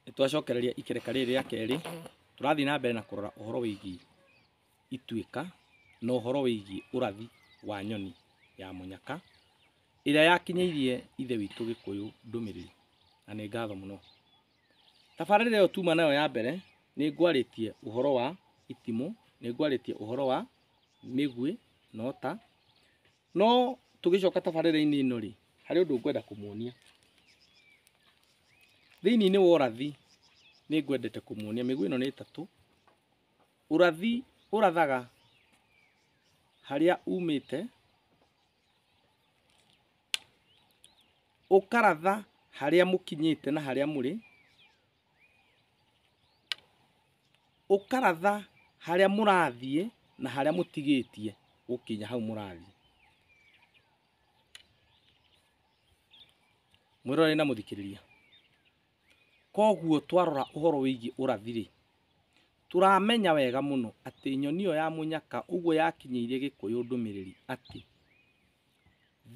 Nĩtwacokereria ikereka rĩrĩ rĩa kerĩ, tũrathiĩ na mbere na kũrora ũhoro wĩgiĩ ituĩka na ũhoro wĩgiĩ ũrathi wa nyoni ya mũnyaka, ĩrĩa yakinyĩirie Ithe witũ Gĩkũyũ ndũmĩrĩri, na nĩ ngatho mũno. Tabarĩra ĩyo tuma nayo ya mbere, nĩngwarĩtie ũhoro wa itimũ, nĩngwarĩtie ũhoro wa mĩguĩ na ũta. No tũgĩcoka tabarĩra-inĩ ĩno rĩ, harĩ ũndũ ngwenda kũmuonia. Thĩinĩ-inĩ wa ũrathi nĩ ngwendete kũmuonia, mĩguĩ ĩno nĩ ĩtatũ. Ũrathi ũrathaga harĩa umĩte, ũkaratha harĩa mũkinyĩte na harĩa mũrĩ, ũkaratha harĩa mũrathiĩ na harĩa mũtigĩtie gũkinya hau mũrathiĩ. Mwĩroreri na mũthikĩrĩria, koguo twarora ũhoro wĩgiĩ ũrathi-rĩ, tũramenya wega mũno atĩ nyoni ĩyo ya mũnyaka ũguo yakinyĩirie gĩkũyũ ndũmĩrĩri atĩ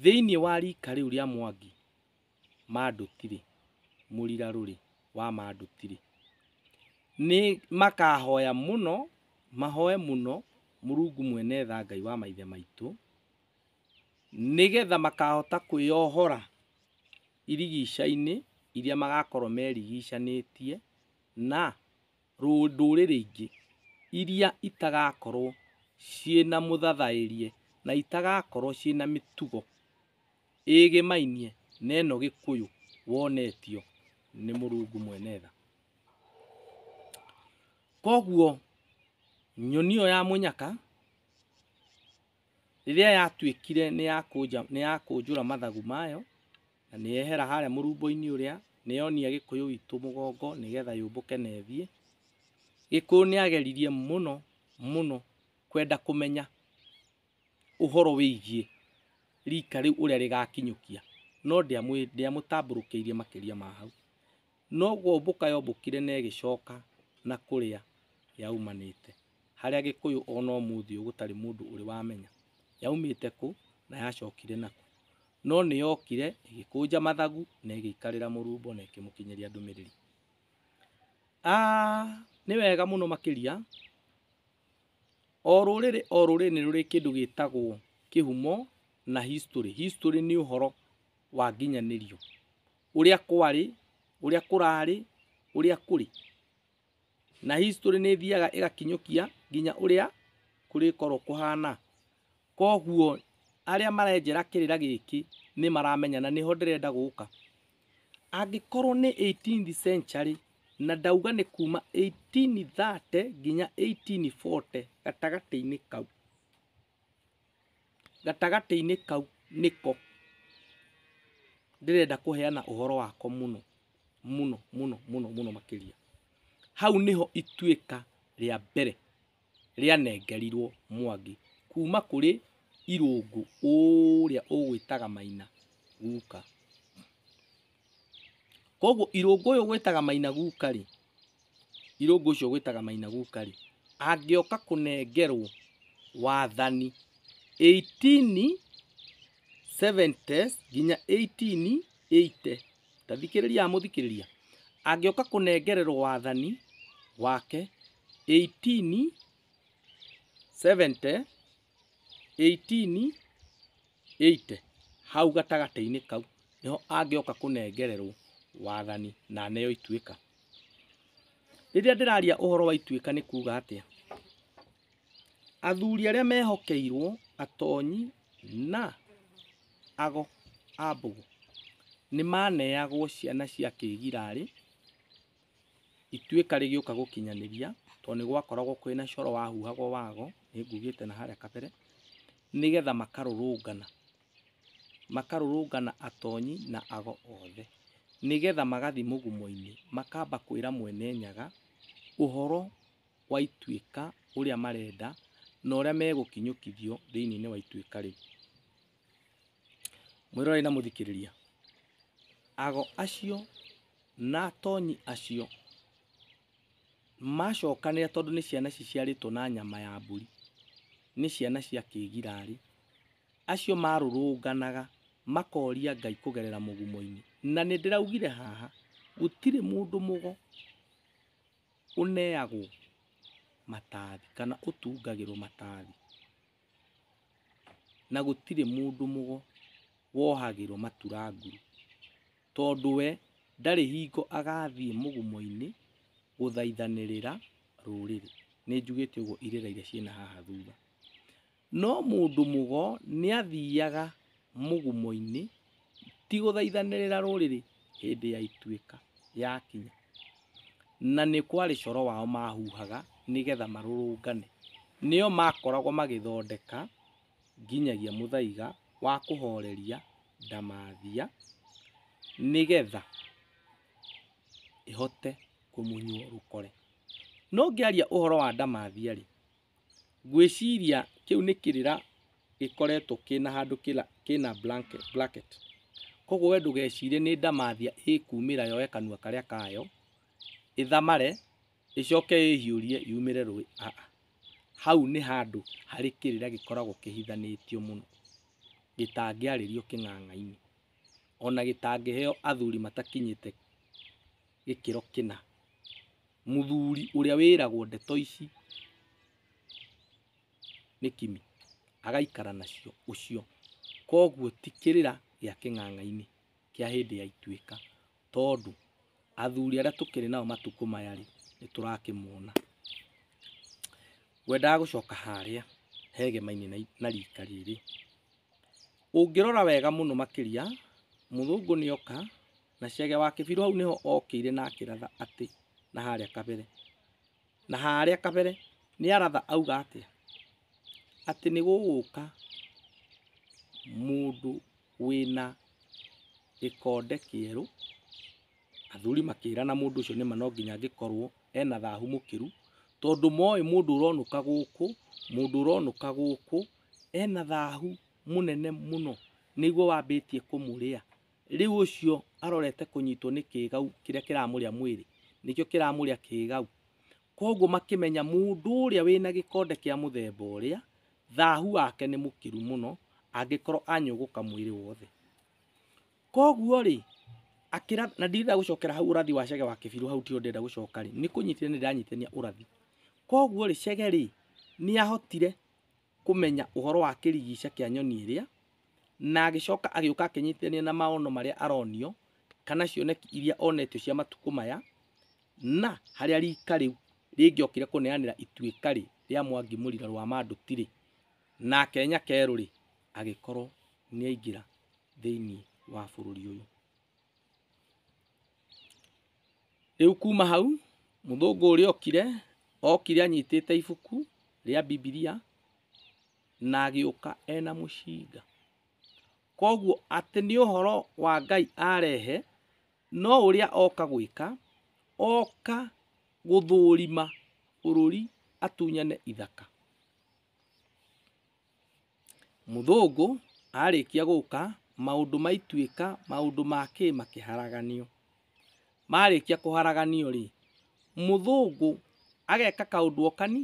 thĩiniĩ wa rika rĩu rĩa mwangi Manduti-rĩ, mũrirarũ-rĩ, wa Manduti-rĩ, nĩ makahoya mũno, mahoe mũno Mũrungu Mwene Tha Ngai wa maithe maitũ, nĩgetha makahota kwĩyohora irigica-inĩ iria magakorwo merigichanĩtie na ndũrĩrĩ ingĩ iria itagakorwo ciĩna mũthathaerie na itagakorwo ciĩna mĩtugo. ĩĩgĩmainie na ĩno gĩkũyũ wonetio nĩ mũrungu mwene tha. Koguo nyoni ĩyo ya mũnyaka rĩrĩa yatuĩkire nĩ ya kũnja nĩ ya kũnjũra mathagu mayo na nĩ yehera harĩa mũrumbo-inĩ ũrĩa nĩ yonia gĩkũyũ witũ mũgongo nĩgetha yũmbũke na ĩthiĩ, gĩkũyũ nĩ ageririe mũno mũno kwenda kũmenya ũhoro wĩgiĩ rika rĩu ũrĩa rĩgakinyũkia, no ndĩamũtambũrũkĩirie makĩria ma hau. No kũmbũka yombũkire na ĩgĩcoka na kũrĩa yaumanĩte, harĩa Gĩkũyũ o na ũmũthĩ ũyũ gũtarĩ mũndũ ũrĩ wamenya yaumĩte kũ na yacokire na kũ. No nĩ yokire ĩgĩkũnja mathagu na ĩgĩikarĩra mũrumbo na ĩkĩmũkinyĩria ndũmĩrĩri. Nĩ wega mũno makĩria O rũrĩrĩ o rũrĩrĩ nĩ rũrĩ kĩndũ gĩtagwo kĩhumo na history. History nĩ ũhoro wa nginyanĩrio, ũrĩa kwarĩ, ũrĩa kũrarĩ, ũrĩa kũrĩ. Na history nĩ ĩthiaga ĩgakinyũkia nginya ũrĩa kũrĩkorwo kũhana. Koguo arĩa marenjera kĩrĩra gĩkĩ nĩ maramenya na nĩho ndĩrenda gũka. Angĩkorwo nĩ eighteenth century, na ndauga nĩ kuma eighteen thirty nginya eighteen forty, gatagatĩ-inĩ kau, gatagatĩ-inĩ kau nĩko ndĩrenda kũheana ũhoro wako mũno mũno mũno mũno makĩria. Hau nĩho ituĩka rĩa mbere. rĩanengerirwo Mwangi kuma kũrĩ Irũngũ ũrĩa ũgwĩtaga Maina guka. Koguo Irũngũ ũyũ ũgwĩtaga Maina guka rĩ, Irũngũ ũcio ũgwĩtaga Maina guka rĩ, angĩoka kũnengerwo wathani 1870 nginya 1880, tathikĩrĩria mũthikĩrĩria angĩoka kũnengererwo wathani wake 18 70 18 80 hau gatagatĩ-inĩ kau nĩho angĩoka kũnengererwo wathani na neo ituĩka rĩrĩa ndĩraria ũhoro wa ituĩka nĩ kuga atĩa Athuri arĩa mehokeirwo, atonyi, na ago a mbũgũ nĩ maneagwo ciana cia kĩgirarĩ ituĩka rĩgĩũka gũkinyanĩria tondũ nĩ gwakoragwo kwĩ na coro wahuhagwo wago, nĩ ngugĩte na harĩa kabere, nĩgetha makarũrũngana. Makarũrũngana atonyi na ago othe, nĩgetha magathiĩ mũgumo-inĩ makamba kwĩra Mwene Nyaga ũhoro wa ituĩka ũrĩa marenda na ũrĩa megũkinyũkithio thĩinĩ wa ituĩka rĩu. Mwĩrorei na mũthikĩrĩria, ago acio na atonyi acio macokanĩra tondũ nĩ ciana ciciarĩtwo na nyama ya mbũri, nĩ ciana cia kĩgirarĩ, acio marũrũnganaga makoria Ngai kũgerera mũgumo-inĩ. Na nĩ ndĩraugire haha gũtirĩ mũndũ mũgo ũneagwo matathi kana ũtungagĩrwo matathi, na gũtirĩ mũndũ wohagĩrwo maturanguro, tondũ we ndarĩ hingo agathiĩ mũgumo-inĩ gũthaithanĩrĩra rũrĩrĩ. Nĩnjugĩte ũguo irĩra iria ciĩ na haha thutha. No mũndũ mũgo nĩathiiaga mũgumo-inĩ ti gũthaithanĩrĩra rũrĩrĩ hĩndĩ ya ituĩka yakinya, na nĩ kwarĩ coro wao maahuhaga nĩ getha marũrũngane. Nĩo maakoragwo magĩthondeka nginyagia mũthaiga wa kũhoreria ndamathia nĩ getha ĩhote kũmunywo rũkore. No ngĩaria ũhoro wa ndamathia-rĩ, Ngwĩciria kĩu nĩ kĩrĩra gĩkoretwo kĩna handũ kĩna bracket. Koguo we ndũgecirie nĩ ndamathia ĩkumĩra yoe kanua karĩa kayo, ĩthamare, ĩcoke ĩhiũrie yumĩre rũĩ, aa. Hau nĩ handũ harĩ kĩrĩra gĩkoragwo kĩhithanĩtio mũno, gĩtangĩarĩrio kĩng'ang'a-inĩ, ona gĩtangĩheo athuri matakinyĩte gĩkĩro kĩna. Mũthuri ũrĩa wĩragwo ndeto ici nĩ Kimi, agaikara nacio ũcio. Koguo ti kĩrĩra gĩa kĩng'ang'a-inĩ kĩa hĩndĩ ya ituĩka, tondũ athuri arĩa tũkĩrĩ nao matukũ maya rĩ, nĩ tũrakĩmona. Ngwendaga gũcoka harĩa hegema-inĩ na rika rĩrĩ. Ũngĩrora wega mũno makĩria, mũthũngũ nĩ oka, Na Chege wa Kĩbirũ hau nĩho okĩire na akĩratha atĩ na harĩa kabere. Na harĩa kabere nĩ aratha auga atĩa? Atĩ nĩ gũgũka mũndũ wĩna gĩkonde kĩerũ, athuri makĩrana mũndũ ũcio nĩma no nginya angĩkorwo ena thahu mũkĩru, tondũ moĩ mũndũ ũronũka gũkũ, mũndũ ũronũka gũkũ ena thahu mũnene mũno, nĩguo wambĩtie kũmũrĩa. Rĩu ũcio arorete kũnyitwo nĩ kĩĩgau kĩrĩa kĩramũrĩa mwĩrĩ, nĩkĩo kĩramũrĩa kĩĩgau. Kwoguo makĩmenya mũndũ ũrĩa wĩ na gĩkonde kĩa mũthemba ũrĩa, thaahu wake nĩ mũkĩru mũno, angĩkorwo anyũgũka mwĩrĩ wothe. Kwoguo-rĩ, akĩra, na ndirenda gũcokera hau ũrathi wa Chege wa Kĩbirũ hau tiho ndĩrenda gũcoka-rĩ, nĩ kũnyitithania ndĩranyitithania ũrathi. Kwoguo-rĩ, Chege-rĩ, nĩ ahotire, kũmenya ũhoro wa kĩrigica kĩa nyoni ĩrĩa, na agĩcoka agĩũka akĩnyitithania na maono marĩa aronio, kana cioneki iria onetio cia matukũ maya, na harĩa rika rĩu rĩngĩokire kũneanĩra ituĩka rĩ, rĩa Mwangi Mũrira Rwamanduti rĩ, nake Nyakerũ rĩ, agĩkorwo nĩaingĩra thĩiniĩ wa bũrũri ũyũ. Rĩu kuma hau, mũthũngũ ũrĩa okire, okire anyitĩte ibuku rĩa Bibilia na agĩũka ena mũcinga. Koguo atĩ nĩ ũhoro wa Ngai arehe, no ũrĩa oka gwĩka, oka gũthũrima bũrũri atunyane ithaka. Mũthũngũ arĩkia gũka, maũndũ maituĩka, maũndũ ma kĩ makĩharaganio. Marĩkia kũharaganio rĩ, mũthũngũ ageka kaũndũ o kani,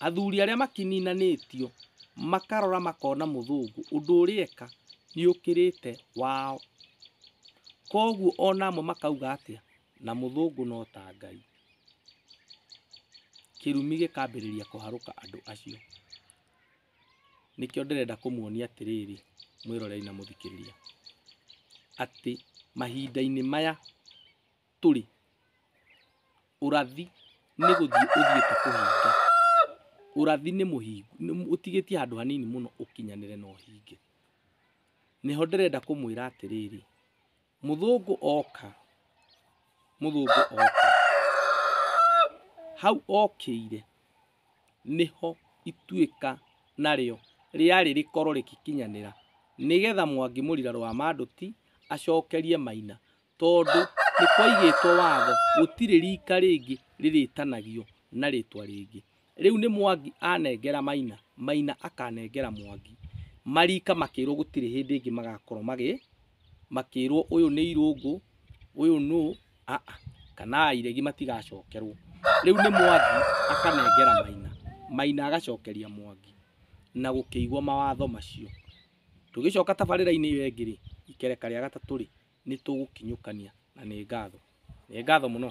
athuri arĩa makĩninanĩtio makarora makona mũthũngũ ũndũ ũrĩa eka nĩ ũkĩrĩte wao. Koguo ona amwe makauga atĩa, na mũthũngũ no ta Ngai. Kĩrumi gĩkambĩrĩria kũharũka andũ acio. Nĩkĩo ndĩrenda kũmuonia atĩrĩrĩ, mwĩroreri na mũthikĩrĩria, atĩ mahinda-inĩ maya tũrĩ, ũrathi nĩ gũthiĩ ũthiĩte kũhinga. Ũrathi nĩ mũhingu, ũtigĩtie handũ hanini mũno ũkinyanĩre na ũhinge. Nĩho ndĩrenda kũmwĩra atĩrĩrĩ, mũthũngũ oka mũthũngũ oka hau okĩire nĩho ituĩka narĩo rĩarĩ rĩkorwo rĩgĩkinyanĩra nĩgetha mwangi mũrira rwa mandũti acokerie maina tondũ nĩkwaigĩtwo watho gũtirĩ rika rĩngĩ rĩrĩtanagio na rĩtwa rĩngĩ Rĩu nĩ Mwangi anengera Maina, Maina akanengera Mwangi. Mariika makĩrwo gũtirĩ hĩndĩ ĩngĩ magakorwo magĩ, makĩrwo ũyũ nĩ irũngũ, ũyũ nũ, a a, kana iregi matigacokerwo. Rĩu nĩ Mwangi akanengera Maina, Maina agacokeria Mwangi na gũkĩigwo mawatho macio. Tũgĩcoka tabarĩra-inĩ ĩyo ĩngĩ rĩ, ikereka rĩa gatatũ rĩ, nĩ tũgũkinyũkania na nĩ ngatho. Nĩ ngatho mũno.